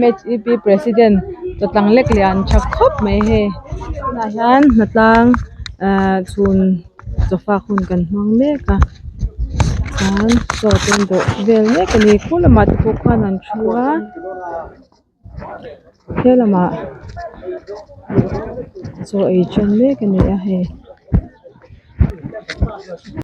mhep president chawtlang lek leh a an tha khawp mai hei tunah hian hna tlang ehh chhun sofa hun kan hmang mek a chuan chaw te an bawh vel mek a ni khur lamah te pawh khuan an thu a he lamah chaw ei ṭhen mek a ni a hei.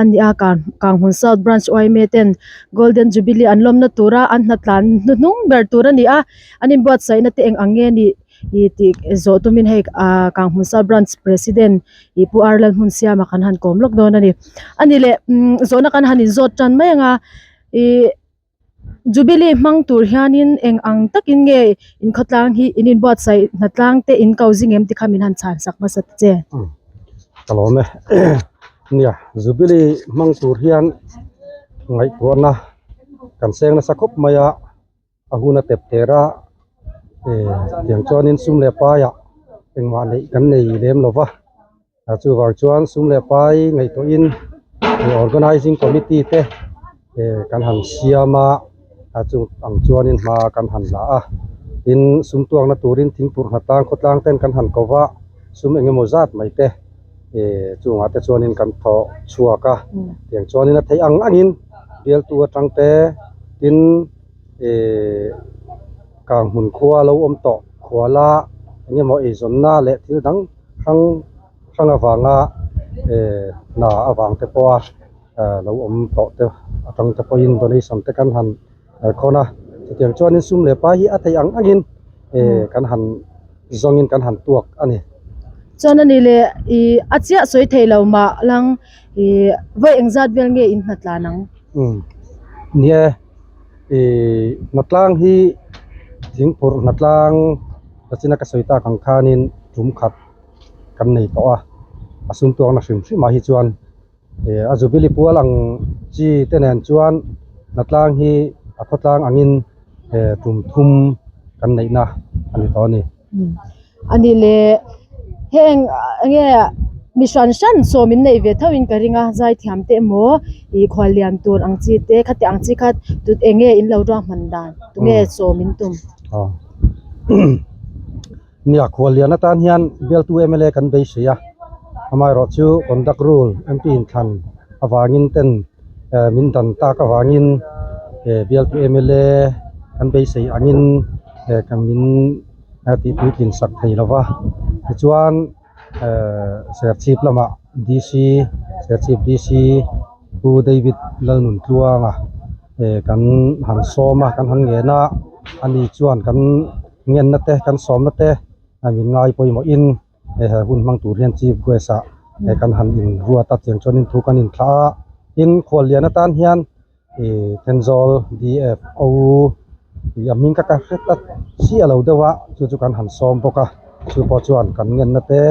a ni a kang kang hun south branch yma ten golden jubilee an lawmna tura an hnatlan hnuhnung ber tur a ni a an in buatsaih na te eng ang nge ni ih tih zawh tum in hei ah kang hun south branch president ih pu ar lalhmunsiam a kan han kawm lawk dawn a ni a ni leh umm zawhna kan han in zawt tan mai ang a ihh-- Jubilee hmang tur hianin eng ang takin nge inkhatlang hi in inbuatsaih hna tlang te in ko zing em tikha min han chhan sak hmasa ta che. Ka lawm e. Nia, Jubilee hmang tur hian ngaihtuahna kan seng nasa khawp mai a, a hun a tep ter a, tiang chuanin sum leh paiah engmah neih kan nei lem lo va. a chuvang chuan sum leh pai ngaihtuahin he organising committee te kan han siam a a chutang chuanin hma kan han la a tin sum tuakna turin thing purhna tan khawtlang ten kan han ko va sum eng emaw zat mai te chungah te chuanin kan thawh chhuak a tiang chuanin a theih ang angin bialtu atang te tin kang hmun khua lo awm tawh khuala eng emaw eizawnna leh thil dang-- hrang hrang avanga ehh hna avang te pawha ehh lo awm tawh te atang te pawhin donation te kan han khawn a chutiang chuanin sum leh pa hi a theih ang angin ehh kan han zawngin kan han tuak a ni chuan a nih leh ihh a chiah sawi theihlo mah lang ihh vawi engzat vel nge in hna tlan ang. ihh hna tlang hi thing phurh hna tlang ka china ka sawi tak ang khan in tum khat kan nei tawh a a sum tuak na hrim hrim ah hi chuan ihh a zubili kual ang chi te nen chuan hna tlang hi a khawtlang ang in ihh tum thum kan neih na a ni tawh a ni. Ani le, heng nge mi hran hran sawmin nei ve tho in ka ring a, zai thiam te emaw ih khual lian tur ang chi te khatiang ang chi kha tut eng nge in lo ruak hman dan tu nge sawm in tum. Nia khual lian atan hian bialtu mla kan beisei a, amaherawhchu conduct rule MP inthlan avangin ten. Min dan tak avangin bialtu mla kan beisei angin kan min tihpui tlinsak thei lo va, tichuan Serchhip lamah DC, Serchhip DC Pu David Lalnuntluanga kan han sawm a, kan han ngen a, ani chuan kan ngenna te, kan sawmna te min ngaipawimawhin. Hei he hun hmang tur hian Chief Guest a he kan han in ruat a chiang chuan in thu kan in thlah a, tin khual lian atan hian ih Thenzawl DF auu tih a hming ka ka hre ta chiah lo deuh a chu chu kan han sawm bawk a, chu pawh chuan kan ngen na te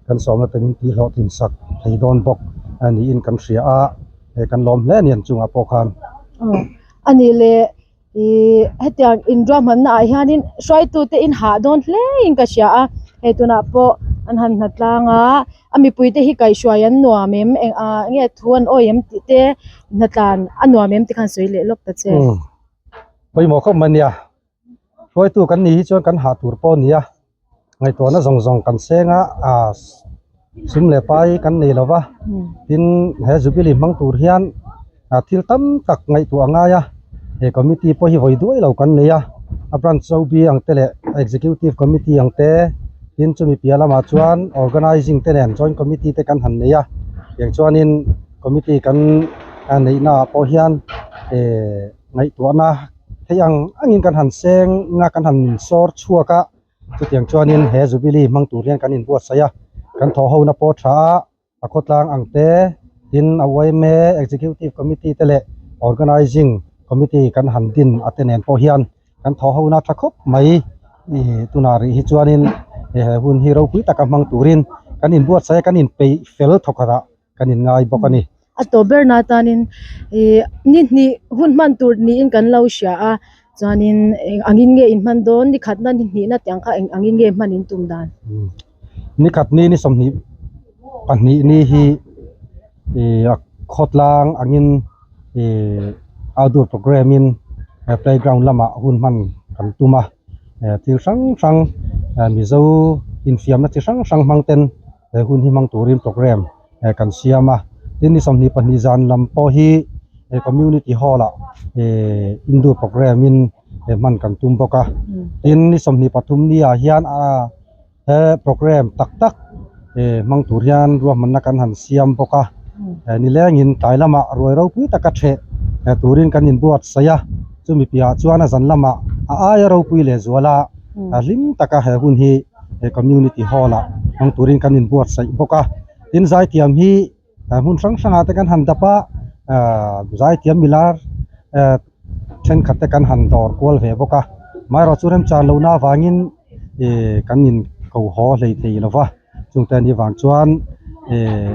kan sawm na te min tih hlawh thin sak thei dawn bawk a niin kan hria a, he kan lawm hle a ni ang chungah pawh khan. Aw a ni le. Ihh hetiang inruahmanna ah hianin hruaitute in hah dawn hle in ka hria a hei tunah pawh an han hna tlang a a mipuite hi kaihhruai an nuam em eng ah nge thu an awih em tih te hna tlan a nuam em te kha an sawi leh lawk ta che pawimawh khawp mai a nia hruaitu kan nih hi chuan kan hah tur pawh a nia. ngaihtuahna zawng zawng kan seng a ah sum leh pai kan nei lo va tin he jubilee hmang tur hian ah thil tam tak ngaihtuah a ngai a he committee pawh hi vawi duai lo kan nei a a branch chaubi ang te leh executive committee ang te tin chumi piah lamah chuan organising te nen joint committee te kan han nei a tiang chuan in committee kan ah neihna ah pawh hian ehh. ngaihtuahna thei ang angin kan han seng ina kan han sawr chhuak a, chutiang chuanin he Jubilee hmang tur hian kan inbuatsaih a, kan thawhhona pawh tha a, a khawtlang ang te, tin a uaim e, Executive Committee te leh Organising Committee kan han din a te nen pawh hian kan thawhhona tha khawp mai, i tunah rih hi chuanin he hun hi ropui taka hmang turin kan inbuatsaih a, kan inpeih fel thawkhatah. kan in ngai bawk a ni. A tawp ber na atanin ih ni hnih hun hman tur niin kan lo hria a chuanin angin nge in hman dawn ni khatna ni hnih na tiang kha eng angin nge hman in tum dan ni khat ni ni sawmhnih pahnih ni hi ih a khawtlang angin ih outdoor programme in playground lamah hun hman kan tum a thil hrang hrang mizo infiamna chi hrang hrang hmang ten-- he hun hi hmang turin programme eh kan siam a tin ni sawmhnih pahnih zan lam pawh hi he community hall ah eh hindu programme in he hman kan tum bawk a tin ni sawmhnih pathum ni ah hian ah he programme tak tak eh hmang tur hian ruahmanna kan han siam bawk a eh ni leng in tlai lam ah ruai ropui taka ṭheh eh turin kan in buatsaih a chumi piah ah chuan a zan lam ah a aia ropui leh zual a hlim taka he hun hi he community hall ah hmang turin kan in buatsaih bawk a tin zai tiam hi ah hmun hrang hrang ah te kan han dap a ah zai tiam ila ah thenkhat te kan han dawr kual ve bawk a amaherawhchu chu remchang lohna avangin ih kan in ko haw hlei thei lo va chungte ni vang chuan eh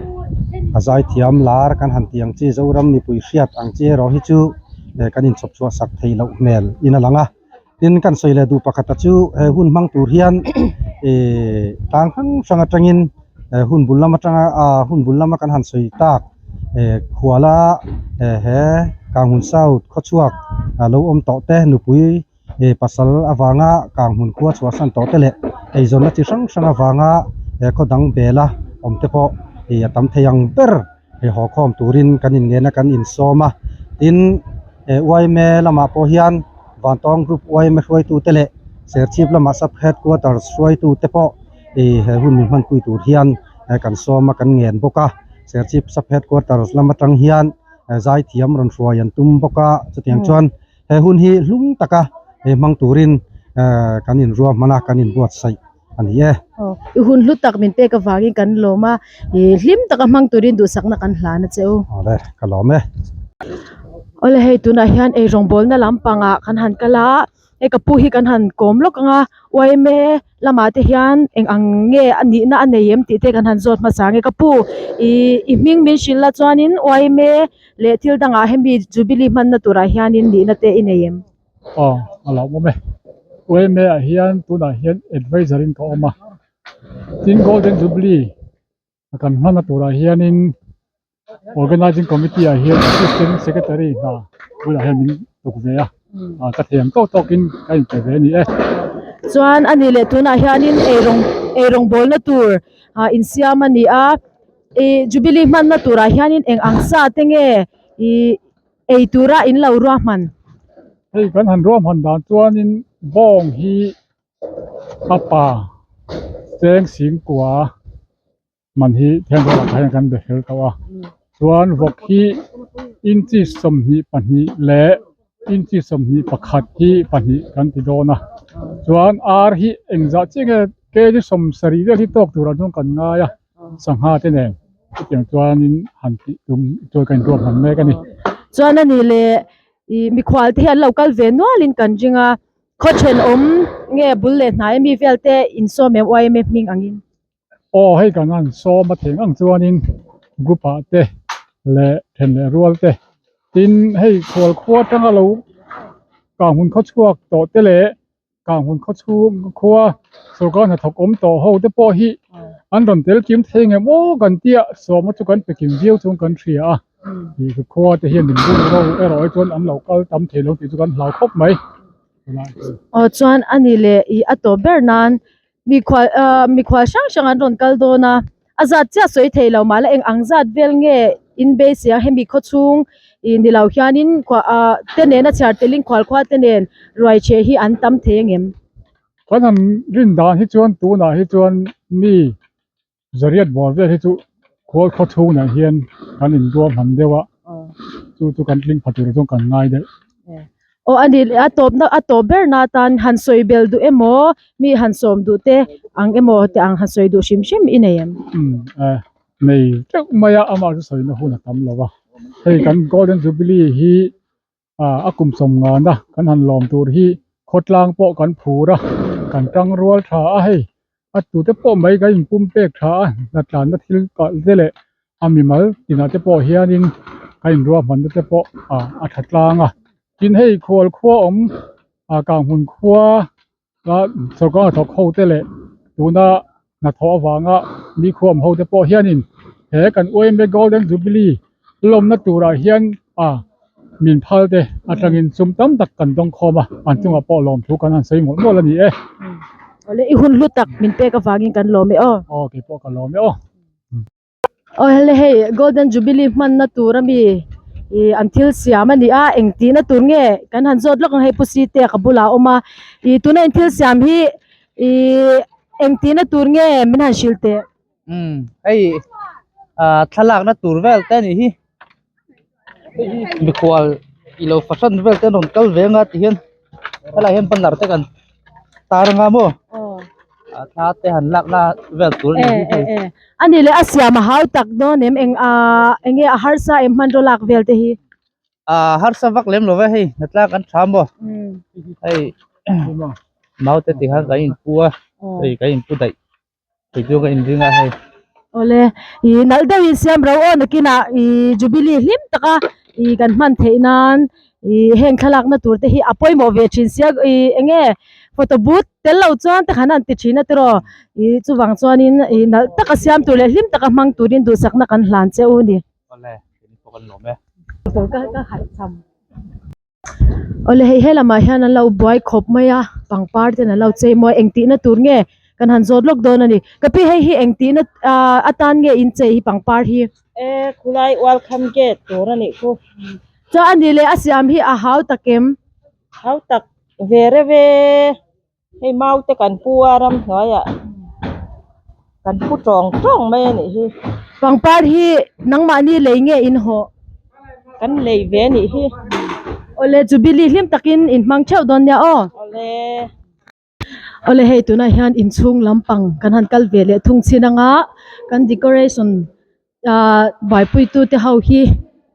a zai thiam lar kan han tih ang chi zoram mipui hriat ang chi erawh hi chu eh kan in chhawpchhuah sak thei loh hmel in a lang a. tin kan sawi leh duh pakhat chu he hun hmang tur hian ihh tlang hrang hrang atangin eh hun bul lam atanga ah hun bul lama kan han sawi tak eh khuala eh he kang hun sau khaw chhuak a lo awm tawh te nupui eh pasal avanga kang hun khua chhuah san tawh te leh eizawnna chi hrang hrang avanga eh khaw dang bela awm te pawh ih a tam thei ang ber. he haw khawm turin kan innena kan insawm a tin he yma lamah pawh hian vantawng group yma hruaitute leh serchhip lama sub headquarters hruaitute pawh ih he hun min hmanpui tur hian kan sawm a kan ngen bawk a serchhip sub headquarters lam atang hian zaithiam rawn hruai an tum bawk a chutiang chuan-- he hun hi hlum taka he hmang turin ehh kan inruah hman a kan in buatsaih a ni e. Aw i hun hlu tak min pek avangin kan lawm a ihh hlim taka hmang turin duhsakna kan hlan a che u. Awle ka lawm e. Awle hei tunah hian ei rawngbawlna lam pangah kan han kal a hei ka pu hi kan han kawm lawk ang a uaime. Lamah te hian eng ang nge a nihna a nei em tih te kan han zawt hmasa ang e. Ka pu, ih i hming min hrilh la chuanin Uaime leh thil dangah hemi Jubilee hmanna turah hianin nihna te i nei em? Aw, a la awm e. Uaime-ah hian tunah hian advisory-in ka awm a, tin Golden Jubilee a kan hman a turah hianin organising committee ah hian assistant secretary hna bulah hian min uk ve a a ka thiam tawk tawkin ka inpe ve a ni e chuan a nih leh tunah hianin ei rawng ei rawng bawlna tur ah insiam a ni a ih jubilee hmanna turah hianin eng ang sa te nge ih ei tura in lo ruahman hei kan han ruahman dan chuanin bawng hi. A pa Seng Sing Kua a hman hi theng vel ah hian kan be fel tawh a chuan vawk hi inchi sawmhnih pahnih leh inchi sawmhnih pakhat hi pahnih kan ti dawn a chuan ar hi engzah chiah nge kei hi sawm sarih vel hi tawk tur ang chuan kan ngai a sangha te nen chutiang chuanin han tih tum tawh kan intuam hran mek a ni chuan a nih leh ih mikhualte hi an lo kal ve nualin kan ring a. Khaw then awm nge bul leh hnai mi vel te insawm em YMF hming angin? Aw hei kan han sawm atheng ang chuanin group ah te leh then leh rual te tin hei khual khua tanga lo kang hun khaw chhuak tawh te leh kang hun khaw chhung khua sorkar hnathawk awm tawh ho te pawh hi an rawn telkim thei ngemaw kan tia sawma chu kan pekin viau chuan kan hria a. Ih khua te hian min bun ro erawh e chuan an lo kal tam thei lo tih chu kan hlau khawp mai. Aw chuan a ni le ih a tawp ber nan mikhua ah mikhua hrang hrang an rawn kal dawn a a zat chiah sawi thei lo mahla eng ang zat vel nge in beisia hemi khaw chhung ih ni lo hianin khua ah te nena chhiar tel in khual khua te nen ruai che hi an tam thei a ngem. Kan han rin dan hi chuan tunah hi chuan mi Zariat bawr vel hi chu khual khaw chhung ah hian kan in ruah hman deuh a, chu chu kan tling pha tur zawng kan ngai daih. Aw a ni le a tawpna a tawp ber na atan han sawi bel duh emaw mi han sawm duh te ang emaw te ang han sawi duh hrim hrim i nei em? Umm a nei teuh mai a, amah chu sawina hun a tam lo va, hei kan Golden Jubilee hi ah a kum sawm nghan a kan han lawm tur hi khawtlang pawh kan phur a kan tang rual tha a hei a tute pawh mai kan in pum pek tha a hna tlan na thil kal te leh a mimal tinah te pawh hianin a inruahman na te pawh ah a tha tlang a tin hei khualkhuaawm ah kang hun khua-- Sorkar hnathawk ho te leh tuna hnathawh avanga nikhum ho te pawh hianin he kan uaina golden jubilee lawmna turah hian a min phal te aṭangin sum tam tak kan dawng khawm a an chungah pawh lawm thu kan han sawi mual mual a ni e. Awle i hun hlu tak min pek avangin kan lawm e aw. Aw kei pawh ka lawm e aw. aw helai hei golden jubilee hmanna tur ami ih an thil siam a ni a eng tihna tur nge kan han zawt lawk ang hei pu site ka bulah a awm a ih tuna an thil siam hi ihh eng tihna tur nge min han hrilh teh. mikhual ilo fahran vel te an rawn kal ve anga tihian he lah hian banner te kan tar anga maw a thla te han lakna vel tur a ni hi hei a ni leh a siam a hau tak dawn em eng ahh eng nge a harsa em hmanraw lak vel te hi ahh harsa vak lem lova hei hna tlang kan tha maw hei mau te tihian kan inpu a hei kan inpu daih. Awle i nalh deuhin siam ro aw nakinah i jubilee hlim taka i kan hman theih nan i heng thlalakna turte hi a pawimawh ve thin sia i eng nge photo but tel lo chuan tak han an ti thin atiraw i chuvang chuanin i nalh taka siam tur leh hlim taka hmang turin duhsakna kan hlan che u ni. awle hei he lamah hian anlo buai khawp mai a pangpar ten anlo chei mawi a engtihna tur nge kan han zawt lawk dawn a ni ka pi hei hi engtihna aaa atan nge in chei hi pangpar hi eee khulai welcome gate tur a nih chu chuan ani leh a siam hi a hau tak em hau tak ve revee. Hei maute kan pu a ram hnuaiah kan pu tawng tawng mai a nih hi. Pangpar hi nangmahni lei nge in hawh? Kan lei ve a nih hi. Awle Jubilee hlim takin in hmang theuh dawn nia aw. Awle. Awle hei tunah hian inchhung lampang kan han kal ve leh thung chin anga kan decoration aaa vaipuitu te ho hi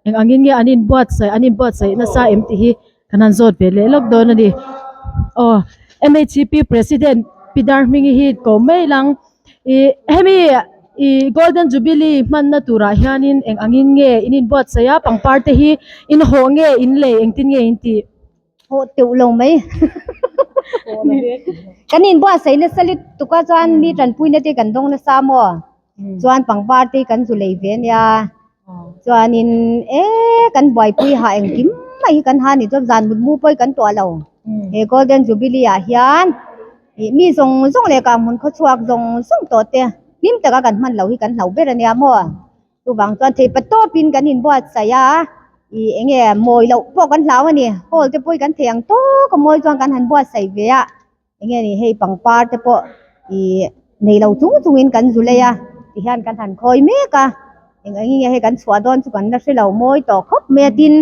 eng angin nge an inbuatsaih an inbuatsaih nasa em tih hi kan han zawt ve leh lawk dawn a ni aw mhcp president pi dar hmingi hi kawm mai lang ih hemi ih golden jubilee hmanna turah hianin eng angin nge in inbuatsaih a pangpar te hi inhawh nge in lei engtin nge in tih haw teuh lo mai kan inbuatsaihna salute tuk a chuan mi tanpuina te kan dawng nasa maw. Chuan pangpar te kan zu lei ve nia chuanin e kan buaipui ha engkim mai hi kan ha ni chuan zan mut mu pawi kan tawh lo he golden jubilee ah hian ih mi zawng zawng leh kang hmun khaw chhuak zawng zawng tawh te hlim taka kan hman loh hi kan hlauh ber ania maw chuvang chuan theipat tawpin kan inbuatsaih a ih eng nge mawi loh pawh kan hlau a ni hall te pawh hi kan thei ang tawk a mawi chuan kan han buatsaih ve a. Enge ni hei pangpar te pawh ih nei lo chung chung in kan zulei a tih hian kan han khawi mek a, eng eng nge hei kan chhuah dawn chu kan la hre lo mawi tawh khawp mai a tin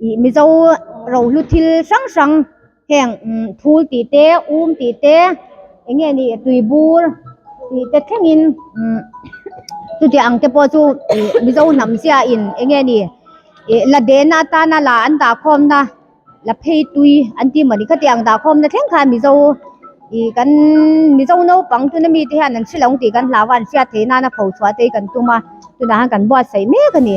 ih Mizo rohlu thil hrang hrang heng phul tih te um tih te enge ni tuibur tih te thleng in chutiang ang te pawh chu ih Mizo hnam zia in enge ni ih la dehna atana la an dah khawm na la phei tui an tih mawni khati ang dah khawmna thleng khan mizo ih kan mizo naupang tuna mite hian an hrilh ang tih kan hlau a an hriat theih nana pho chhuah te hi kan tum a tunah hian kan buatsaih mek a ni.